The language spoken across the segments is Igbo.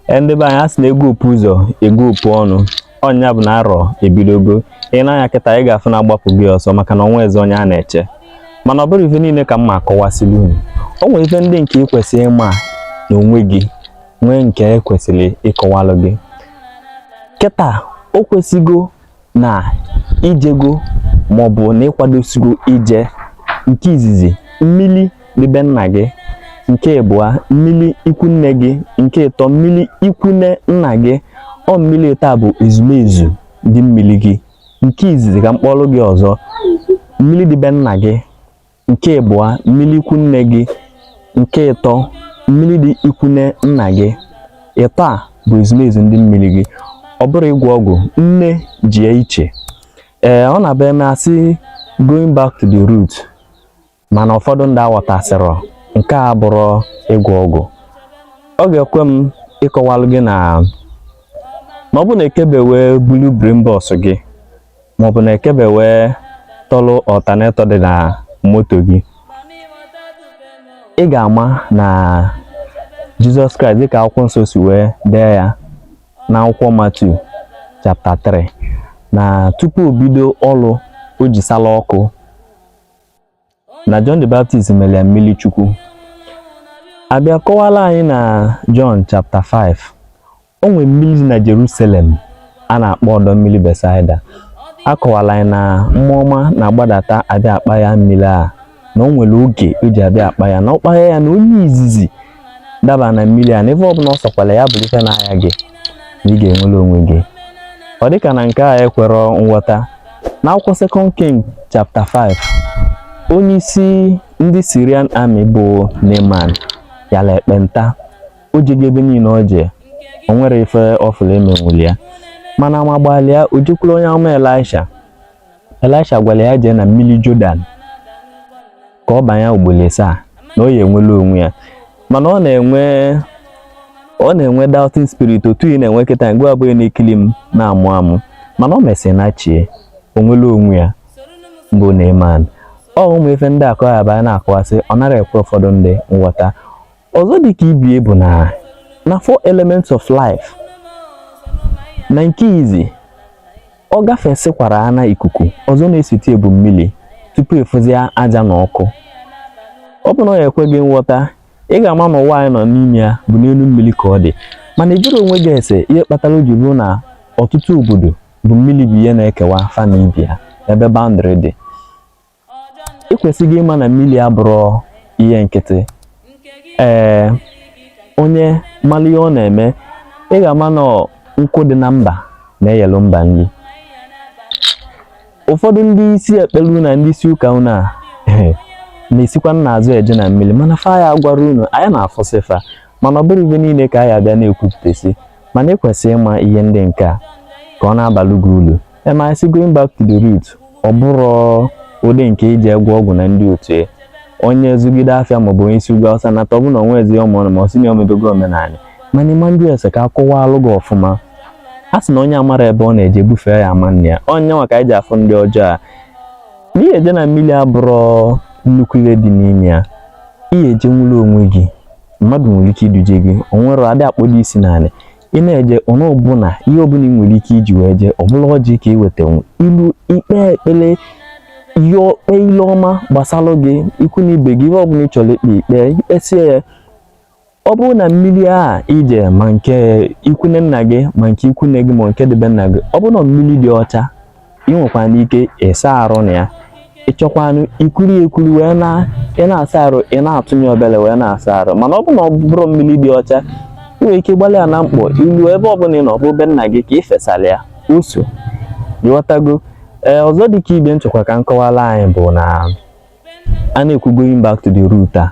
e, ndị be anyị a sị na e gupu ụzọ e gupu ọnụ ọ nya bụ na arọ ebidogo i nee anya kịta ị ga-afụ na agbapụ gị ọsọ maka na o nwezi onye a na-eche mana ọ bụrọ ife niile ka m ma akọwasịlị unu o nwere ife ndị nke ị kwesịrị ịma na onwe gị nwee nke e kwesịrị ịkọwalụ gị kịta o kwesịgo na i jego maọbụ na ị kwadosigo ije nke izizi mmili dị be nna gị nke ịbụa mmili ikwu nne gị nke ịtọ mmili ikwu nne nna gị ọ mmili ịtọ a bụ ezumezu ndị mmili gị nke izizi ka m kpọọlụ gị ọzọ mmili dị be nna gị nke ịbụa mmili ikwu nne gị nke ịtọ mmili dị ikwu nne nna gị ịtọ a bụ ezumezu ndị mmiri gị ọ bụrọ ịgwọ ọgwụ nne ji ya iche ee ọ na-abụ e mee a sị going back to the root mana ụfọdụ ndị aghọtasịrọ nke a abụrọ ịgwọ ọgwụ ọ ga-ekwe m ịkọwalụ gị na ma ọ bụ na ekebe wee bulu brain box gị maọbụ na ekebe wee tọlụ alternator dị na moto gị ị ga-ama na Jesus Christ dịka akwụkwọ nsọ si wee dee ya na akwụkwọ Matthew chapter 3 na tupu o bido ọlụ o ji sala ọkụ na John the Baptist mere ya mmili Chukwu a bịa kọwalụ anyị na John chapter 5 o nwere mmili dị na Jerusalem a na-akpọ ọdọ mmili Bethsaida a kọwalụ anyị na mmụọ ọma na-agbadata abịa akpaya mmiri a na o nwere oge o ji abịa akpaya na ọ kpaya ya na onye izizi daba na mmili a na ife ọbụna ọ sọkwalụ ya bụlụ ife na-aya gị na ị ga-enwelu onwe gị ọ dịka na nke a ekwerọ nghọta na akwụkwọ second king chapter 5 onye isi ndị Syrian army bụ Naaman yala ekpenta o jego ebe niine o je o nwerọ ife ọfụla e menwulu ya mana ama gbalụ ya o jekwuru onye amụma Elisha Elisha gwalụ ya jee na mmili Jordan ka ọ banye ugbolo asaa na ọ ya-enwelu onwe ya mana ọ na-enwe doubting spirit otu ị na-enwe kịta ngịwa bụ onye na-ekili m na-amụ amụ mana o mesịrị na chie o nwelu onwe ya bụ Naaman ọ ụmụ ife ndị a ka ọ bụ a na-akọwasị ọ narọ ekwe ụfọdụ ndị nghọta ọzọ dị ka ibe ya bụ na na four elements of life na nke izi ọ gafesịkwara ana ikuku ọzọ na-esote ya bụ mmili tupu ị fụzie aja na ọkụ ọ bụ na ọ ya-ekwe gị nghọta ị ga-ama na ụwa anyị nọ n'ime ya bụ n'enu mmiri ka ọ dị mana ị jụrọ onwe gị ese ihe kpatalụ o ji bụrụ na ọtụtụ obodo bụ mmiri bụ ihe na-ekewa fa na ibe ya ebe boundary dị ị kwesịgo ịma na mmili abụrọ ihe nkịtị ee onye mara ihe ọ na-eme ị ga-ama na nkụ dị na mba na-eyelu mba nri ụfọdụ ndị isi ekpele na ndị isi ụka unu a na-esikwa n'azụ eje na mmili mana fa ya gwara unu anyị na-afụsị fa mana ọ bụrọ ife niile ka anyị abịa na-ekwupụtasị mana ị kwesịrị ịma ihe ndị nke a ka ọ na-abalụ gị ulu ị ma sị going back to the root ọ bụrụ ụdị nke iji agwọ ọgwụ na ndị otu ya onye zụgide afịa maọbụ onye si ugwu Awụsa nata ọbụna onwe ezi ụmụ ọnụ ma ọ sị na o mebego omenala mana ịma ndị ese ka a kọwalụ gị ọfụma a sị na onye amara ebe ọ na-eje bufee ya ama nne ya onye nwa ka anyị ji afụ ndị ọjọọ a n'ihi ije na mmili abụrụ nnukwu ihe dị n'ime ya ihe eje nwụrụ onwe gị mmadụ nwere ike iduje gị o nwere adị akpọdo isi n'ala ị na-eje ọnụ ọbụla ihe ọbụla ị nwere ike iji wee jee ọ bụlụ ọjị ka ị weta i luo i kpee ekpele ihe okpe ile ọma gbasara gị ikwu na ibe gị ihe ọbụla ị chọrọ ikpe ikpe ị kpesịa ya ọ bụrụ na mmili a i je ma nke ikwunne nna gị ma nke ikwunne gị ma nke dị be nna gị ọ bụrụ na mmili dị ọcha ị nwekwanụ ike ịsa arụ na ya ị chọkwanụ ikuru ya ekuru wee na ị na-asa arụ ị na-atụnye obele wee na-asa arụ mana ọ bụ na ọ bụrọ mmili dị ọcha ị nwere ike gbalụ ya na mkpọ i luo ebe ọbụla ị nọ bụ be nna gị ka ị fesara ya ụsọ ị ghọtago ee ọzọ dị ka ife m chọkwa ka m kọwala anyị bụ na a na-ekwu going back to the root a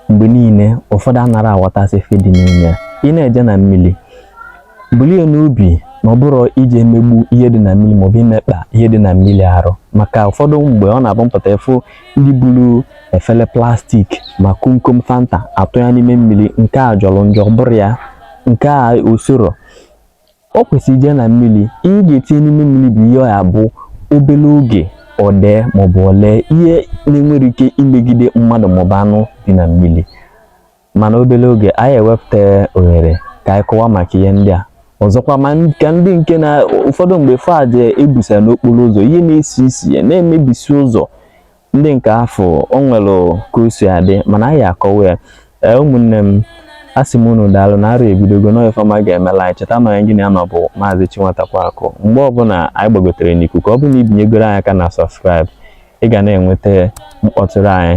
mgbe niile ụfọdụ anara aghọtasị ife dị n'ime ya ị na-eje na mmili bulu ya n'obi na ọ bụrọ ije emegbu ihe dị na mmili maọbụ imekpa ihe dị na mmili arụ maka ụfọdụ mgbe ọ na-abụ m pụta afụ ndị bulu efele plastik ma komkom fanta atụ ya n'ime mmili nke a jọrọ njọ bụrọ ya nke a usoro o kwesịrị ije na mmili ihe ị ga-etinye n'ime mmili bụ ihe ọ ya-abụ obere oge o dee maọbụ o lee ihe na-enwerọ ike imegide mmadụ maọbụ anụ dị na mmili mana obere oge anyị ewepụta ohere ka anyị kọwa maka ihe ndị a ọzọkwa maka ndị nke na ụfọdụ mgbe fa eje ebusa n'okporo ụzọ ihe na-esi isi ya na-emebisi ụzọ ndị nke afụ o nwere ka o si adị mana anyị akọwa ya ee ụmụnne m a sị m unu daalụ na arọ ebidogo na ife ọma ga-emela anyị cheta na onye gị na ya nọ bụ maazị Chinwatakwa Akụ mgbe ọbụla anyị gbagotere n'ikuku ọ bụrụ na i binyegoro anyị aka na subscribe ị ga na-enweta mkpọtụrụ anyị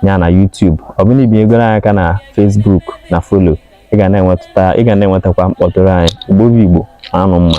ya na YouTube ọ bụrụ na i binyegoro anyị aka na Facebook na follow ị ga na-enwetakwa mkpọtụrụ anyị Igbo bụ Igbo anụ mma